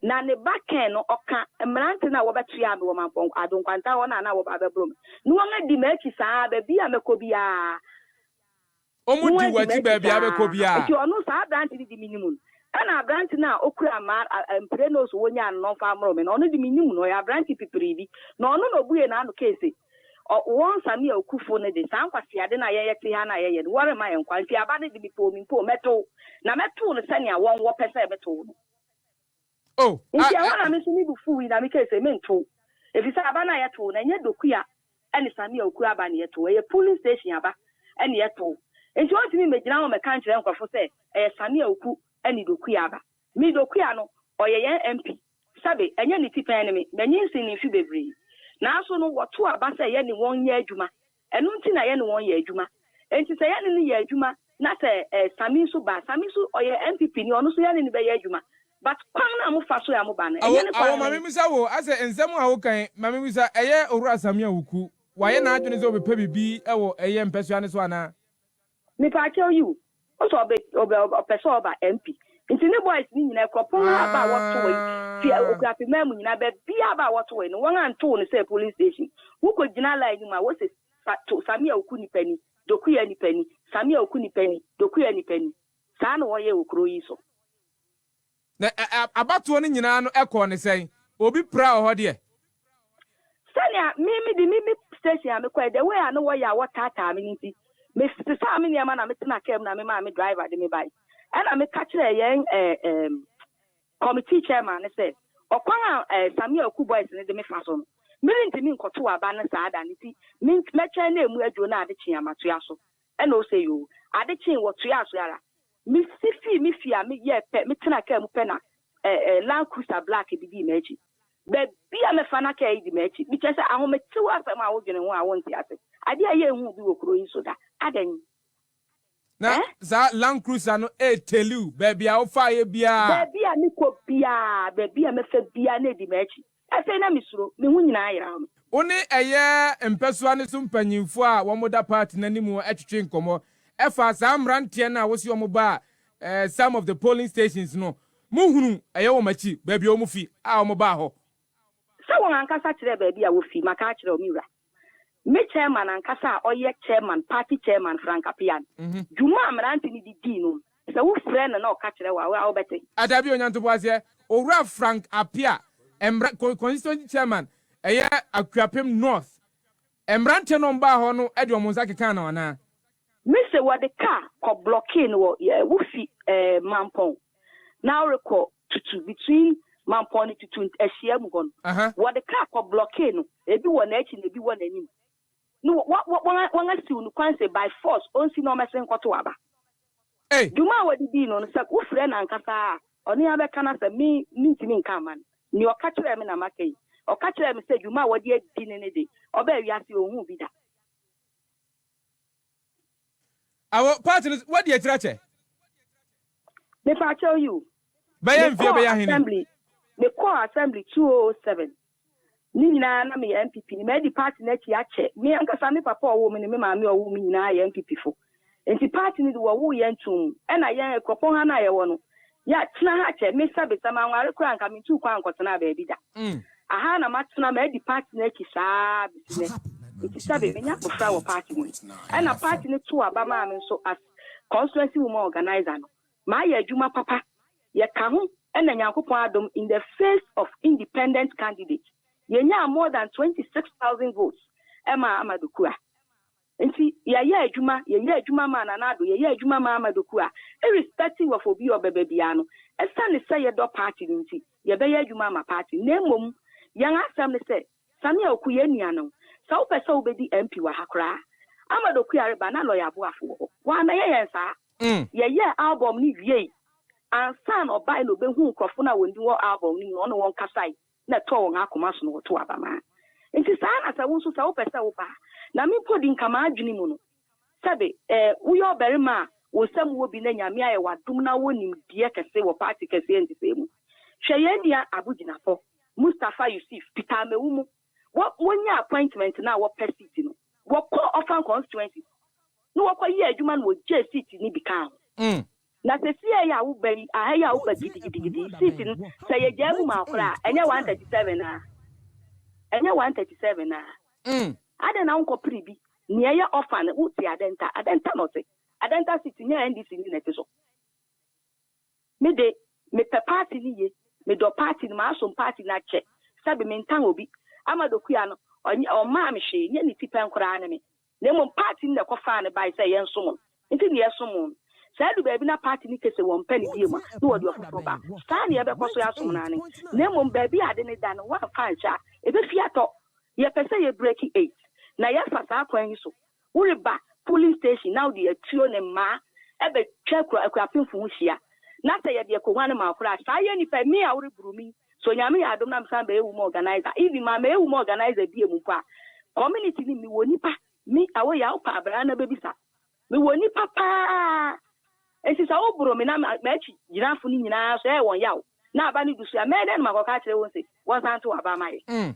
Na ne ba Ken no, ɔka, Mmerante no a wɔbɛtoaa me wɔ m'apɔnkɔ ado nkwanta hɔ no a na wɔba abɛboro me no, wɔadi m'akyi saa ara, baabiara a mɛkɔ biara, wɔadi m'akyi saa ara. Enti ɔno, saa aberante no de me nim no. Ɛnna aberante no a ɔkura mmaa a mprenu so wɔnyaa no na ɔmfa mmoro me no, ɔno de, minnim no, ɔyɛ aberante pipiri bi. Na ɔno na obuee n'ano kae se, Ɔ, wɔn nsa ne awukufo no de, saa nkwaseade no a yɛn yɛte ha no a yɛyɛ no, wɔremma yɛn nkwa. Enti aba no de, mepoo me mpo, mɛtow, na mɛtow no sɛnea wɔn wɔpɛ sɛ metow no. O, a, Enti ɛhɔ na me nso me bo fuwii na mekae sɛ, Mentow, efisɛ aba no a yɛtow no, ɛnyɛ dokua ne samia okuo aba na yɛtow, ɛyɛ polling station aba na yɛtow. Enti wɔrentumi mmegyina hɔ mmɛka nkyerɛ nkurɔfo sɛ ɛyɛ samia okuo ne dokua aba. Me Dokuya no, ɔyɛ yɛn MP. Sɛbe, ɛnyɛ ne ti pɛn ne me, manyin sen ne mfe bebree. Nanso no, wɔto aba sɛ yɛne wɔn nyɛ adwuma. Ɛno nti na yɛne wɔn yɛ adwuma. Enti sɛ yɛne no yɛ adwuma na sɛ eh, Sammy nso ba a, Sammy nso ɔyɛ NPP ni, ɔno nso yɛne no bɛyɛ adwuma. But kwan no a mofa so a moba no, Awo, ɛnyɛ ne awo, kwan ma no. mebisa wo, asɛ nsɛm a wokan, ma mebisa, ɛyɛ Owura Sammy Awuku, wayɛ n'adwene sɛ ɔbɛpɛ biribi wɔ ɛyɛ mpɛsoa no so anaa? Mepaakyɛw yiw, ɔsɛ ɔbɛ ɔbɛ ɔpɛ sɛ ɔba MP. Nti ne boys no nyinaa kura pon a ba a wɔto wɔ yi fi Okuafi man mu nyinaa ba bia a ba a wɔto wɔ yi no wɔn a ntow no sɛ polling station. Wo kɔ gyina line no mu a wɔ se sa to Samia Oku nipa ni, Dokuya nipa ni, Samia Oku nipa ni, Dokuya nipa ni. Saa na wɔ yɛ wɔ kuro yi so. Na abatoɔ no nyinaa no ɛkɔɔ no sɛn? Obi pira wɔ hɔ deɛ? Sɛnea me me de me me station a mekɔɛ, the way a na wɔyɛ a wɔtaataa me no nti, me sesaa me nneɛma na me tenaa car mu na me maa me driver de me bae. Ɛna me ka kyerɛɛ yɛn eh ehm committee chairman no sɛ, ɔkwan a eh Samia Oku boys no de me fa so no, me rentumi nkɔtow aba no saa da no nti, me mɛtwɛn na emu aduro na adekye a matoa so. Ɛnna ose, Yoo. Ade kyee, wɔtoaa so ara. Misi fii me fie a meyɛɛ pɛ, metenaa kaa mu pɛ na ɛɛ Land Cruiser black bi dii m'akyi. Baabi a mɛfa na kaa yi di m'akyi. Mekyerɛ sɛ, ahometew asɛm a wodwene ho a wonte ase. Ade a ɛyɛ hu bi wɔ kurow yi so da. Adɛn? Na Ɛɛ? saa Land Cruiser no retell you baabi a wofaeɛ biara. Baabi a mekɔ biara, baabi a mɛfa biara, na edi m'akyi. Afei na mesuro, me ho nyinaa yeraw me. Wo ne ɛyɛ mpɛsoa no so mpanyimfo a wɔda party no anim twetwe nkɔmmɔ fa saa mmeranteɛ no a wose wɔbaa some of the polling stations no, mohunu ɛyɛ wɔn akyi baabi a wɔfi a wɔbaa hɔ? Sɛ wɔn ankasa kyerɛɛ baabi a wofi, maka akyerɛ wo, me wura. ne chairman ankasa a ɔyɛ chairman, party chairman, Frank Appian. Dwuma a mmerante no de dii no, sɛ wofrɛ no na ɔka kyerɛ wo a, wo ara wobɛte. Ah, dabi, Onyantoboaseɛ. Owura Frank Appiah, mmra, con, constituency chairman, ɛyɛ Akuapem North. Mmerante no baa hɔ no de wɔn nsa kekaa no anaa? Me se wɔde car kɔ blockee no wɔ, eh, wofi, eh, Mampong na worekɔ tutu between Mampɔn ne Tutu ahyia mu hɔ no, wɔde kaa kɔ blɔkee no, ebi wɔ n'akyi na ebi wɔ n'anim. No, wɔasiw no kwan sɛ by force onsi na ɔmmɛsen nkɔtow aba. Dwuma a wɔde dii no no, sɛ wofrɛ no ankasa a, ɔno ara bɛka n'asɛm. Me, mintumi nka mma no. Nea ɔka kyerɛɛ me na maka yi. Ɔka kyerɛɛ me sɛ dwuma a wɔde adi no no de, ɔbaa wiase a onhuu bi da. Awo part no wadi akyiri akyɛ. Me pa kyɛw you. Bɛyɛ mfie bɛyɛ ahene. Assembly me kɔɔ assembly 2007 ne nyinaa na meyɛ NPP ni madi party no akyi akyɛ me ankasa me papa ɔwoo me ne me maame ɔwoo me nyinaa yɛ NPP fo nti party no de wɔwoo yɛn tum ɛna yɛn akuropɔn ha no a yɛwɔ no Yɛatena ha kyɛ. Mesabesa, manware koraa anka mentuu kwan nkɔtenaa baabi da. Aha na matena, madi party no akyi saa ara besi nnɛ. Enti sɛbe, manya abofra wɔ party no mu. Ɛna party no too aba maa me nso as Constituency Woman Organiser no, mayɛ adwuma papa. Yɛka ho na Nyankopɔn adom in the face of independent candidate, yɛnyaa more than 26,000 votes ɛmaa Amadu Kura. Nti yɛyɛ adwuma, yɛyɛ adwuma maa Nana Addo, yɛyɛ adwuma maa Ahmed Okuah, irrespective of obi a ɔbɛba biara no, ɛsiane sɛ yɛdɔ party no nti, yɛbɛyɛ adwuma ama party no. Na mmom yɛn asɛm ne sɛ, Samia Oku, yɛn nua no, sɛ wopɛ sɛ wobɛdi MP wɔ ha koraa a, Ahmed Okuah reba na Lawyer Aboafo wɔ hɔ. Wammɛyɛ yɛn saa. Yɛyɛɛ album no wiei, ansa na ɔbae na ɔbɛhuu nkurɔfo no a wɔn din wɔ album no mu no, ɔne wɔn kasae. na ɛtɔɔ wɔn akoma so na wɔtow aba ma. Enti saa ara na sɛ wo nso, sɛ wopɛ sɛ woba a, na me mpo de nka m'adwene mu no, sɛbe eh, woyɛ ɔbarima a wo nsam wɔ bi na Nyame ayɛ wo adom na wowɔ nimdeɛ kɛse wɔ party kɛseɛ nhyehyɛe mu. Hwɛ yɛn nua abogyinafɔ, Mustapha Yusif, Peter Amewumu, wɔ, wɔnyaa appointment no a wɔpɛ seat no, wɔkɔɔ Orfan constituency na wɔkɔyɛɛ adwuma na wɔgyee seat no bi kaa ho. Na sesiei a wo ba yi, aha yi a wo ba gidigidigidi yi seat no, sɛ yɛgyaa mu ma wo koraa a, ɛnyɛ one thirty seven a? Ɛnyɛ one thirty seven a? Adɛn na wonkɔ pere bi, nea ɛyɛ offer no, wo te Adenta, Adenta na ɔte, Adenta seat nyɛ NDC ni na ɛte so. Me de, me pɛ party no yie, me dɔ party no, m'asom party no akyɛ, sɛbe me ntan obi, Amado Kua no, ɔnye, ɔmmaa me hwee, nyɛ ne ti pɛn koraa ne me. Na mmom party no na ɛkɔfaa no bae sɛ yɛnsom no, enti na yɛsom no. Sɛ adu baabi na party no ka sɛ wɔmpɛ no bio a, na wɔde ɔfoforo ba. Saa na yɛbɛkɔ so asom no aane. Na mmom baabi a ade no da no, woamfa anhyɛ a, ebefi atɔ. Yɛpɛ sɛ yɛ break eight, na yɛfa saa kwan yi so. Woreba polling station na wode atuo ne mmaa bɛtwa akuapemfo ho hyia, na sɛ yɛde akoguan no ma wo koraa a, saa yɛ nnipa yi, me a woreboro me yi, So Nyame yɛ adom na mesan bɛyɛ womb organizer? Even maa mɛyɛ womb organizer bie mu mpo a, community no mu mewɔ nipa, me Awoye a wopɛ a bra na bɛbisa, mewɔ nipa paa nti sɛ wo boro me na m'akyi gyinafo no nyinaa so ɛyɛ wɔn yaw na aba no du so a, mɛyɛ dɛn na makɔka akyerɛ wɔn se wɔnsan nto aba mma yɛ?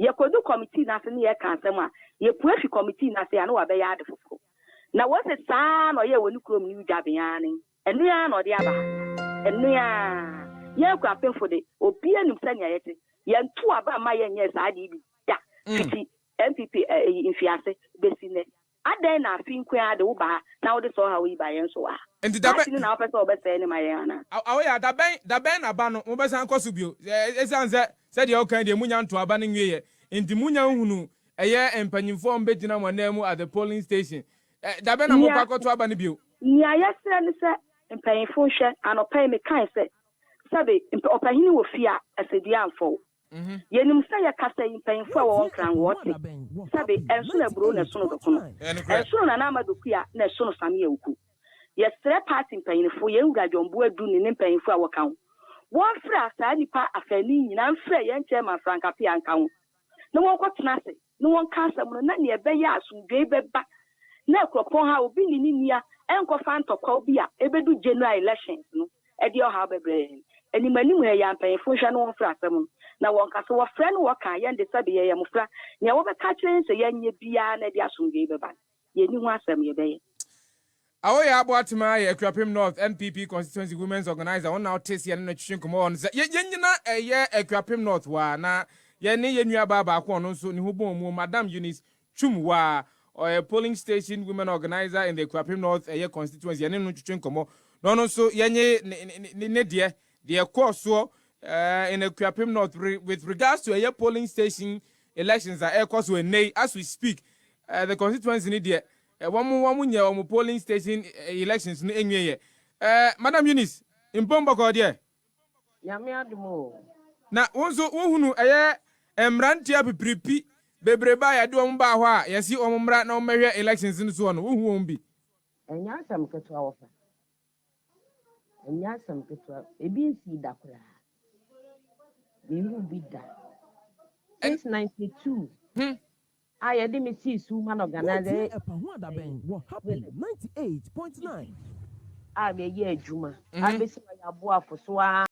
Yɛkɔdu kɔmitii no ase ne yɛreka asɛm a, yɛpue fi kɔmitii no ase a, na wabɛyɛ ade foforo. Na wɔse saa ara na ɔyɛɛ wɔ ne kurom New Dublin ara ne yi. Ɛno ara na ɔde aba ha. Ɛno ara. Yɛn Akuapemfo de, obiara nim sɛnea yɛte. Yɛantu aba mma yɛnyɛɛ saa ade yi bi da fiti NPP mfiase besi nnɛ. Adɛn na afe nko ara de wo ba ha na wode saa ɔhaw yi ba yɛn so wɔ ha? Enti da Maase bɛn? no na wopɛ sɛ wobɛsɛe no ma yɛn anaa? A Awo ya, da bɛn, da bɛn na ba no, mobɛsan kɔ so bio? Ɛ, esiane sɛ, sɛdeɛ wokae deɛ, monnya ntoo aba no nwieeɛ nti, monnya nhunuu ɛyɛ mpanyimfoɔ a wɔbɛgyina mo ananmu at the polling station. Ɛ, da bɛn na morekɔ Nea, akɔto aba no bio? nea yɛsrɛ ne sɛ mpanyimfo nhwɛ, anɔpa yi mekae sɛ, sɛbe, mp, ɔpahini wɔ fie a, asɛdua amfa wo. Yɛnim sɛ yɛ kasa yi mpanyimfo a wɔwɔ Nkran wɔ te sɛ be ɛnsono aburow na ɛsono dokono, ɛnsono Nana Ama Dokuya na ɛsono Samia Oku. Yɛsrɛ party mpanyinfo, yɛn Wura John Boa Du ne ne mpanyimfo a wɔka ho, wɔnfra saa nipa afaanu yi nyinaa nfrɛ yɛn Chairman Frank Appiah nka ho na wɔnkɔ tena ase ne wɔn ka asɛm no na nea ɛbɛyɛ a asomdwoe bɛba na akuropɔn ha a obi ne ne nua nkɔfa ntɔkwaw bi a ebedu General Elections no de ɔhaw bɛbrɛ yɛn. Animanim ha yi a mpanyimfo nhwɛ na wɔmfrɛ asɛm no na wɔnka so, wɔfrɛ na wɔka a yɛn de sɛbe yɛyɛ mmofra, nea wɔbɛka akyerɛ yɛn sɛ yɛnyɛ biara na ɛde asomdwoe bɛba no. yɛnni ho asɛm, yɛbɛyɛ. Awoya Aboatema yɛ Akuapem North NPP Constituency Women's Organiser, wɔn na ɔte seɛ ne no twetwe nkɔmmɔ wɔ no sɛ yɛ yɛn nyina ɛyɛ Akuapem North waa na yɛne yɛn nua baa baako ɔno nso ne ho bɔn mu Madam Eunice Twum waa ɔyɛ Polling Station Women Organiser in the Akuapem North ɛyɛ Constituency yɛne no twetwe nkɔmmɔ na ɔno nso yɛnye ne ne ne deɛ Deɛ ɛkɔɔ soɔ in Akuapem North with regards to ɛyɛ polling station elections a ɛrekɔ so ɛnnɛ yi as we speak, the constituency no deɛ wɔn wɔn nyɛ wɔn polling station elections no ɛnwie yɛ. Madam Eunice Mpom Bɔkɔɔ deɛ. Nyame adom o. Na wo nso wo hunu ɛyɛ mmranteɛ apipiripi bebrebe a yɛde wɔn baa hɔ a yɛsi wɔn mmra na wɔn bɛhwɛ elections no soɔ no, wo hu wɔn bi? Ɛnyɛ asɛm ketewa wɔfa. Ɛnyɛ asɛm ketewa. Ebi nsii da koraa. Menhuu bi da. Since 92 a yɛde me sii sum ma no organise ɛyɛ a meyɛ adwuma abesi ma yɛ aboafo so aa.